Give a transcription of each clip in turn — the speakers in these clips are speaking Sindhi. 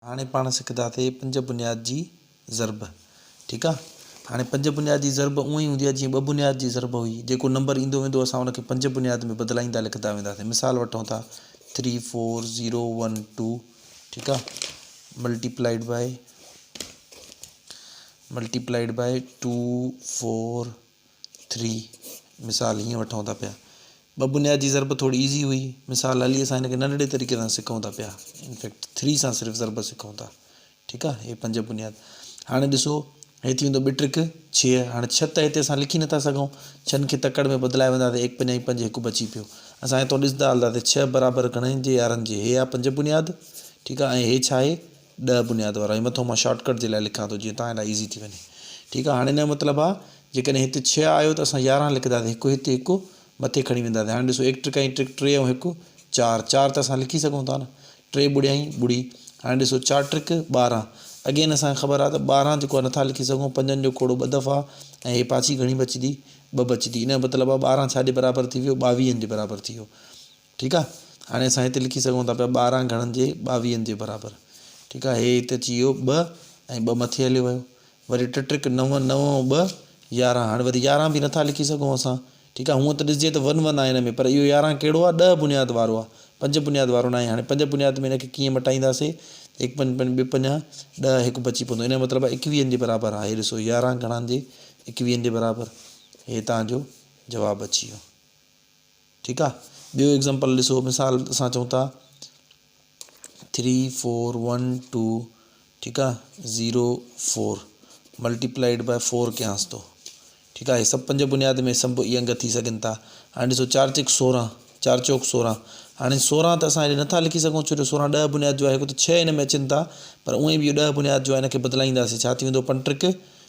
هاڻي پاڻ سکنداسين پنج بنياد جي ضرب ٺيڪ آ هاڻي پنج بنياد جي ضرب اونئن ئي هوندي آ جيئن ٻه بنياد جي ضرب هئي جيڪو نمبر ايندو ويندو اسان ان کي پنج بنياد ۾ بدلائيندا لکندا وينداسين مثال وٺون ٿا three four zero one two ٺيڪ آ multiplied by multiplied by two four three, مثال هيئن وٺون ٿا پيا. ٻه بنيادي ضرب ٿوري ايزي هئي. مثال علي اسان هن کي ننڍڙي طريقي سان سکون ٿا پيا. ان فيڪٽ ٿري سان صرف ضرب سکون ٿا. ٺيڪ آهي. هي پنج بنياد. هاڻي ڏسو هي ٿي ويندو ٻه ٽرڪ ڇهه. هاڻي ڇهه ته هتي اسان لکي نٿا سگهون. ڇهن کي تڪڙ ۾ بدلائي وينداسين ايڪ پنج ۽ پنج هڪ بچي پيو. اسان هتو ڏسندا هلنداسين ڇهه برابر گهڻن جي يارهن جي. هي آهي پنج بنياد. ٺيڪ آهي ۽ هي ڇا آهي؟ ڏهه بنياد وارا هي مٿو مان شارٽ ڪٽ جي لاء لکان ٿو جيئن توهان لاء ايزي ٿي وڃي ٺيڪ آهي هاڻي هن جو مطلب آهي جيڪڏهن هت ڇهه آيو ته اسان يارهن لکنداسين هڪ هت هڪ مٿي کڻي وينداسين هاڻي ڏسو ايڪ ٽرڪ ۽ ٽرڪ ٽي ۽ هڪ چار چار ته اسان لکي سگهون ٿا نه ٽي ٻڙيائين ٻڙي هاڻي ڏسو چار ٽرڪ ٻارهن اگين اسانکي خبر آهي ته ٻارهن جيڪو نٿا لکي سگهون پنجن جو کوڙو ٻه دفعا ۽ هي پاڇي گهڻي بچدي ٻه بچدي ان جو مطلب آهي ٻارهن ڇا جي برابر ٿي ويو ٻاويهن جي برابر ٿي ويو ٺيڪ آ هاڻي اسان هتي لکي سگهون ٿا پيا ٻارهن گهڻن جي ٻاويهن جي برابر ٺيڪ آ هي هتي اچي ويو ٻه ۽ ٻه مٿي هليو ويو وري ٽه ٽرڪ نو نو ۽ ٻه يارهن هاڻي وري يارهن به نٿا لکي سگهون اسان ٺيڪ آ هونء ته ڏسجي ته ون ون آ هن ۾ پر اهو يارهن ڪهڙو آ ڏهه بنياد وارو آ پنج بنياد وارو ناهي هاڻي پنج بنياد ۾ هن کي ڪيئن مٽائينداسي هڪ پنج پنج ٻه پنج ڏهه هڪ بچي پوندو ان جو مطلب آ ايڪويهن جي برابر آ هي ڏسو يارهن گهڻن جي ايڪويهن جي برابر هي تهان جو جواب اچي ويو. ٺيڪ آ ٻيو ايگزامپل ڏسو مثال اسان چئون ٿا ٿري فور ون ٽو ٺيڪ آ zero four multiplied by four ڪيانس ٿو ٺيڪ آ هي سڀ پنج بنياد ۾ سڀ اي انگ ٿي سگهن ٿا هاڻي ڏسو چار چڪ سورهن چار چوڪ سورهن هاڻي سورهن ته اسان هيڏي نٿا لکي سگهون ڇو جو سورهن ڏهه بنياد جو آهي هڪ ته ڇهه هن ۾ اچن ٿا پر اونئي به اهو ڏهه بنياد جو آهي هن کي بدلائينداسين ڇا ٿي ويندو پنٽرڪ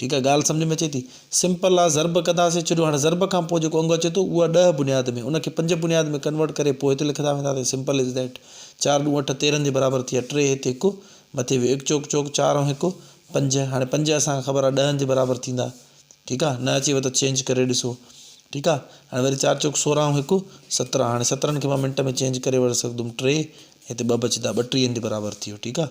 ٺيڪ آ ڳالهه سمجهه ۾ اچي ٿي. سمپل آ ضرب ڪنداسين ڇڏيو هاڻي ضرب کان پوء جيڪو انگ اچي ٿو اهو آ ڏهه بنياد ۾ ان کي پنج بنياد ۾ ڪنورٽ ڪري پوء هتي لکندا وينداسين سمپل از ڏيٽ چار ڏون اٺ تيرهن جي برابر ٿي ويا ٽي هتي هڪ مٿي ويو هڪ چوڪ چوڪ چار ۽ هڪ پنج هاڻي پنج اسان کي خبر آ ڏهن جي برابر ٿيندا ٺيڪ آ نه اچيو ته چينج ڪري ڏسو ٺيڪ آ هاڻي وري چار چوڪ سورهن ۽ هڪ سترهن هاڻي سترهن کي مان منٽ ۾ چينج ڪري وٺ سگهندم ٽي هتي ٻه بچدا ٻٽيهن جي برابر ٿي ويو ٺيڪ آ.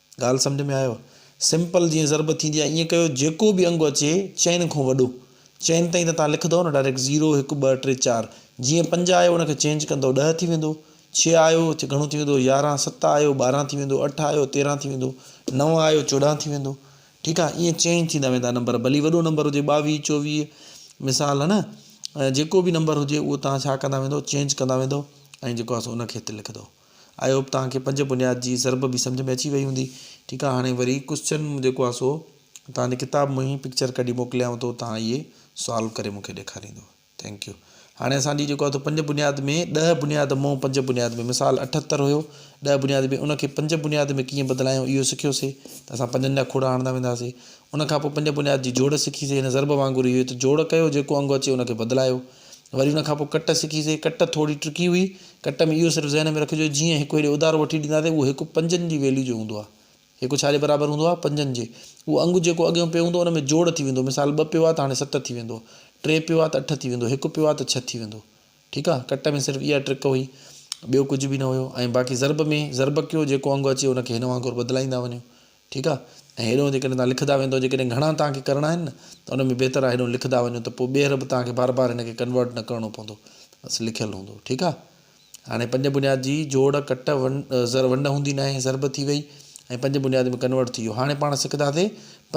ڳالهه سمجهه ۾ آيو؟ سمپل جيئن ضرب ٿيندي آهي ائين ڪيو جيڪو به انگ اچي چئن کون وڏو چئن تائين ته توهان لکندؤ نه ڊائريڪٽ زيرو هڪ ٻه ٽي چار جيئن پنج آيو ان کي چينج ڪندؤ ڏهه ٿي ويندو ڇهه آيو گهڻو ٿي ويندو يارهن ست آيو ٻارهن ٿي ويندو اٺ آيو تيرهن ٿي ويندو نو آيو چوڏهن ٿي ويندو ٺيڪ آهي ائين چينج ٿيندا ويندا نمبر ڀلي وڏو نمبر هجي ٻاويهه چوويهه مثال نه جيڪو به نمبر هجي اهو توهان ڇا ڪندا ويندو چينج ڪندا ويندو ۽ جيڪو آهي سو ان کي هتي لکندو آئي هوپ توهان کي پنج بنياد جي ضرب به سمجهه ۾ اچي وئي هوندي ٺيڪ آ هاڻي وري ڪوسچن جيڪو آ سو توهان جي ڪتاب مون هي پڪچر ڪڍي موڪليانو ٿو توهان اهي سالو ڪري مون کي ڏيکاريندو ٿينڪ يو هاڻي اسان جي جيڪو آ تو پنج بنياد ۾ ڏهه بنياد مون پنج بنياد ۾ مثال اٺتر هيو ڏهه بنياد ۾ ان کي پنج بنياد ۾ ڪيئن بدلايون اهو سکيو سي ته اسان پنجن جا کوڙا هڻندا ويندا سي ان کان پوء پنج بنياد جي جوڙ سکي سي هن ضرب وانگر اهو ته جوڙ ڪيو جيڪو انگ اچي ان کي بدلايو وري ان کان پوء ڪٽ سکيسين. ڪٽ ٿوري ٽرڪي هئي. ڪٽ ۾ اهو صرف ذهن ۾ رکجو جيئن هڪ هيڏي اڌارو وٺي ڏينداسين اهو هڪ پنجن جي ويليو جو هوندو آهي. هڪ ڇا جي برابر هوندو آهي؟ پنجن جي. اهو انگ جيڪو اڳيون پيو هوندو ان ۾ جوڙ ٿي ويندو مثال ٻه پيو آهي ته هاڻي ست ٿي ويندو. ٽي پيو آهي ته اٺ ٿي ويندو. هڪ پيو آهي ته ڇهه ٿي ويندو. ٺيڪ آهي. ڪٽ ۾ صرف اها ٽرڪ هئي. ٻيو ڪجهه به نه هيو. ۽ باقي ضرب ۾ ضرب ڪيو جيڪو انگ اچي ان کي هن وانگر بدلائيندا وڃو. ٺيڪ آ ۽ هيڏو جيڪڏهن توهان لکندا ويندو جيڪڏهن گهڻا توهان کي ڪرڻا آهن نه ته ان ۾ بهتر آ هيڏو لکندا وڃو ته پوء ٻيهر به توهان کي بار بار ان کي ڪنورٽ نه ڪرڻو پوندو بس لکيل هوندو ٺيڪ آ هاڻي پنج بنياد جي جوڙ ڪٽ ون زر ونڊ هوندي ناهي ضرب ٿي وئي ۽ پنج بنياد ۾ ڪنورٽ ٿي ويو هاڻي پاڻ سکنداسي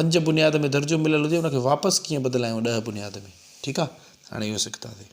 پنج بنياد ۾ درجو مليل هجي ان کي واپس ڪيئن بدلايون ڏهه بنياد ۾ ٺيڪ آ هاڻي اهو سکنداسي.